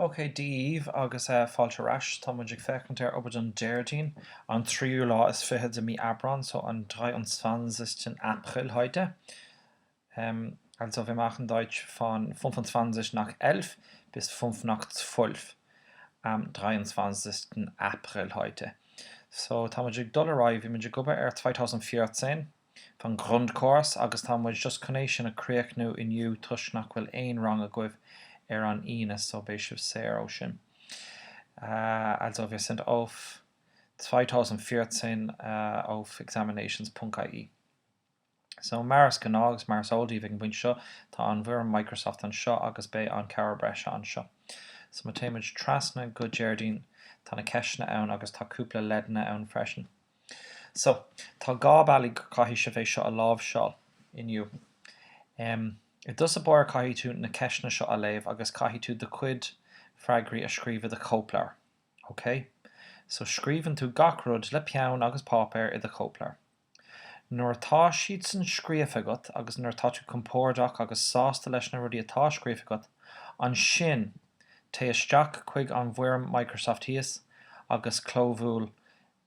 OK, Dia daoibh agus fáilte ar ais. Tá muid ag féachaint ar obair don Déardaoin, an tríú lá is fiche de mí Aibreáin, so an 23. April heute. Also, wir machen Deutsch von 25 nach 11 bis 5 nach 12 am 23. April heute. So, tá muid ag dul ar aghaidh, bhí muid ag obair ar 2014. vom Grundkurs agus tá muid just chun é sin a chríochnú inniu toisc nach bhfuil aon rang agaibh ar an Aoine so beidh sibh saor ó sin. Also wir sind auf 2014 auf examinations punkt ie. So mar is gnáth agus mar is eol daoibh ag an bpointe seo tá an bhfoirm Microsoft anseo agus beidh an cabhair breise anseo. So má téimid trasna go Déardaoin tá na ceisteanna ann agus tá cúpla leideanna ann freisin. So, tá dhá bealaigh go gcaithfidh sibh é seo a láimhseáil inniu. Em. I dtús báire caithfidh tú na ceisteanna seo a léamh agus caithfidh tú do chuid freagraí a scríobh i do chóipleabhar. OK? So, scríobhann tú gach rud le peann agus páipéar i do chóipleabhar. Nuair atá siad san scríofa agat agus nuair atá tú compordach agus sásta leis na rudaí atá scríofa agat, ansin, téigh isteach chuig an bhfoirm Microsoft thíos agus clóbhuail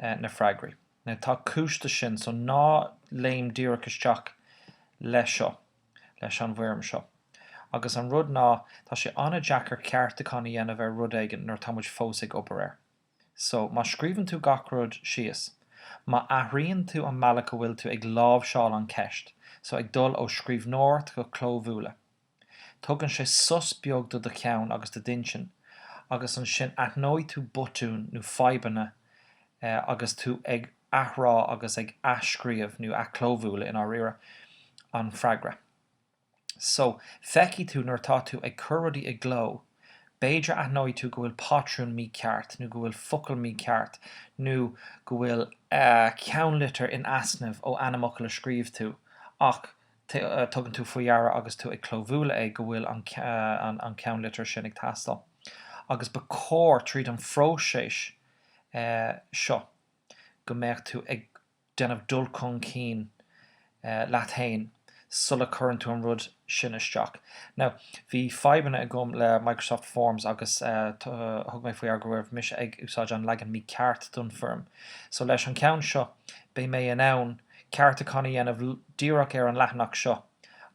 na freagraí. Now tá cúis dó sin, so ná léim díreach isteach leis seo, leis an bhfoirm seo. Agus an rud ná, tá sé an-deacair ceartúchán a dhéanamh ar rud éigin nuair atá muid fós ag obair air. So, má scríobhann tú gach rud síos, má athraíonn tú an mbealach a bhfuil tú ag láimhseáil an cheist, so ag dul ó scríbhneoireacht go clóbhualadh, Tugann sé sos beag do do cheann agus do d'intinn agus ansin aithneoidh tú botúin nó fadhbanna agus tú ag athrá agus ag athscríobh, nó athchlóbhualadh i ndáiríre, an freagra. So, feicfidh tú nuair atá tú ag cur rudaí i gcló, b'fhéidir aithneoidh tú go bhfuil pátrún mícheart, nó go bhfuil focal mícheart, nó go bhfuil ceannlitir in easnamh ó ainmfhocal a scríobh tú ach tugann tú faoi deara agus tú ag clóbhualadh é go bhfuil an ceannlitir sin ag teastáil agus ba chóir tríd an phróiseas seo go mbeadh tú ag déanamh dul chun cinn leat féin sula chuireann tú an rud sin isteach. Now, bhí fadhbanna agam le Microsoft Forms agus thug mé faoi deara go raibh mise ag úsáid an leagan mícheart don foirm so leis an ceann seo beidh mé in ann ceartúchán a dhéanamh díreach ar an leathanach seo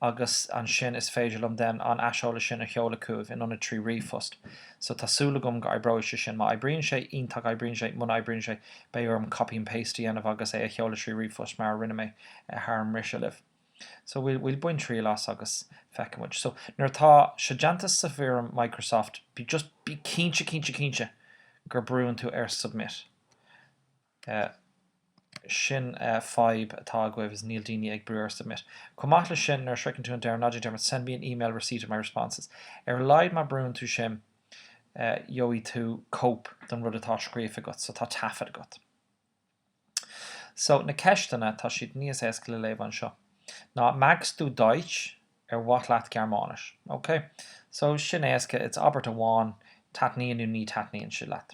agus ansin is féidir liom then an aiseolas sin a sheoladh chugaibh in ionad trí ríomhphost. So tá súil agam go oibreoidh sé sin. Má oibríonn sé, iontach, oibríonn sé, muna oibríonn sé, beidh orm copy and paste a dhéanamh agus é a sheoladh trí ríomhphost mar a rinne mé thar an mbriseadh libh. So we'll we'll bain triail as agus feicfidh muid. So nuair atá sé déanta sa bhfoirm Microsoft, be just bí cinnte, cinnte, cinnte gur brúann tú ar submit. Sea, sin an fhadhb atá agaibh is níl daoine ag brú ar submit. Chomh maith leis sin, nuair a shroicheann tú an deireadh, ná déan dearmad send me an email receipt of my responses. Ar a laghad má brúann tú sin, gheobhaidh tú cóip den rud atá scríofa agat, so tá taifead agat. So, na ceisteanna, tá siad níos éasca le léamh anseo. Now magst du Deutsch? An maith leat Gearmáinis? OK. So, sin éasca, it's abairt amháin, taitníonn nó ní taitníonn sé leat.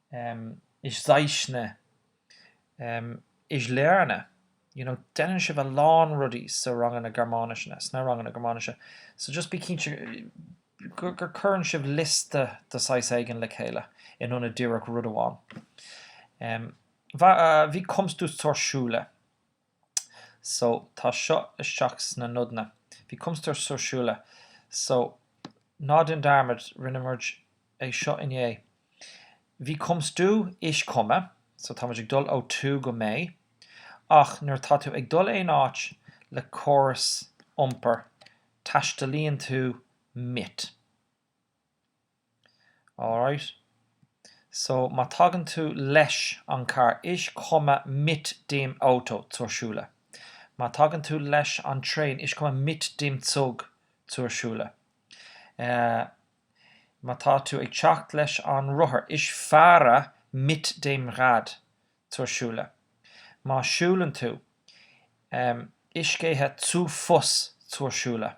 em. ich zeichne. em. ich lerne. you know déanann sibh a lán rudaí sa ranganna Gearmáinise na, sna ranganna Gearmáinise so just bí cinnte gur, gur cuireann sibh liosta de saghas éigin le chéile in ionad díreach rud amháin. em. wie kommst du zur Schule? so tá seo isteach sna nodanna. Wie kommst du zur Schule? So, ná déan dearmad, rinne muid é seo inné. Wie kommst du? Ich komme, so tá muid ag dul ó tú go mé, ach nuair atá tú ag dul aon áit le córas iompair, taistealaíonn tú mit. Alright. So má tagann tú leis an carr ich komme mit dem Auto zur Schule. Má tagann tú leis an traein ich komme mit dem Zug zur Schule. Má tá tú ag teacht leis an rothar ich fahre mit dem Rad zur Schule. Má siúlann tú, ich gehe zu Fuss zur Schule.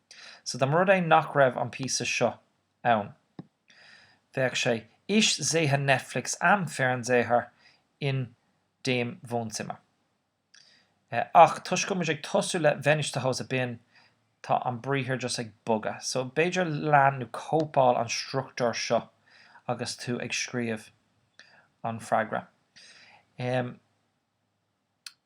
So dá mba rud é nach raibh an píosa seo ann, bheadh sé Ich sehe Netflix am Fernseher in dem Wohnzimmer. Eh, ach toisc go bhfuil muid ag tosú le Wenn ich zu Hause bin, tá an briathar just ag bogadh. So b'fhéidir lean nó cóipeáil an struchtúr seo agus tú ag scríobh an freagra. Em.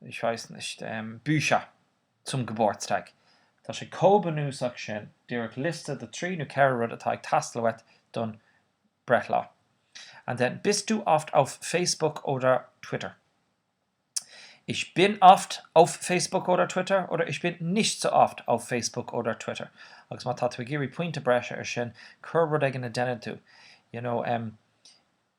Ich weiß nicht. Bücher zum Geburtstag. Tá sé chomh bunúsach sin, díreach liosta de trí nó ceithre rud atá ag teastáil uait don breithlá. And then Bist du oft auf Facebook oder Twitter? Ich bin oft auf Facebook oder Twitter oder ich bin nicht so oft auf Facebook oder Twitter. Agus má tá tú ag iarraidh pointe breise ar sin, cuir rud éigin a dhéanann tú, you know, em,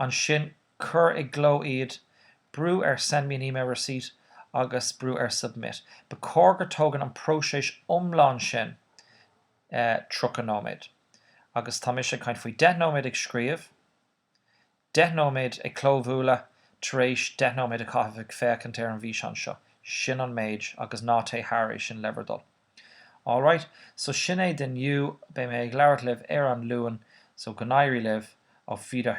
ansin cuir i gcló iad, brú ar 'Send me an email receipt' agus brú ar 'Submit'. Ba chóir gur tógann an próiseas iomlán sin 30 nóiméad, agus tá mise ag caint faoi 10 nóiméad ag scríobh, 10 nóiméad ag clóbhualadh, tar éis 10 nóiméad a chaitheamh ag féachaint ar an bhfíseán seo, sin an méid, agus ná téigh thar é sin le bhur dtoil. Alright, so sin é d'inniu, beidh mé ag labhairt libh ar an Luan, so go n-éirí libh, auf Wieder.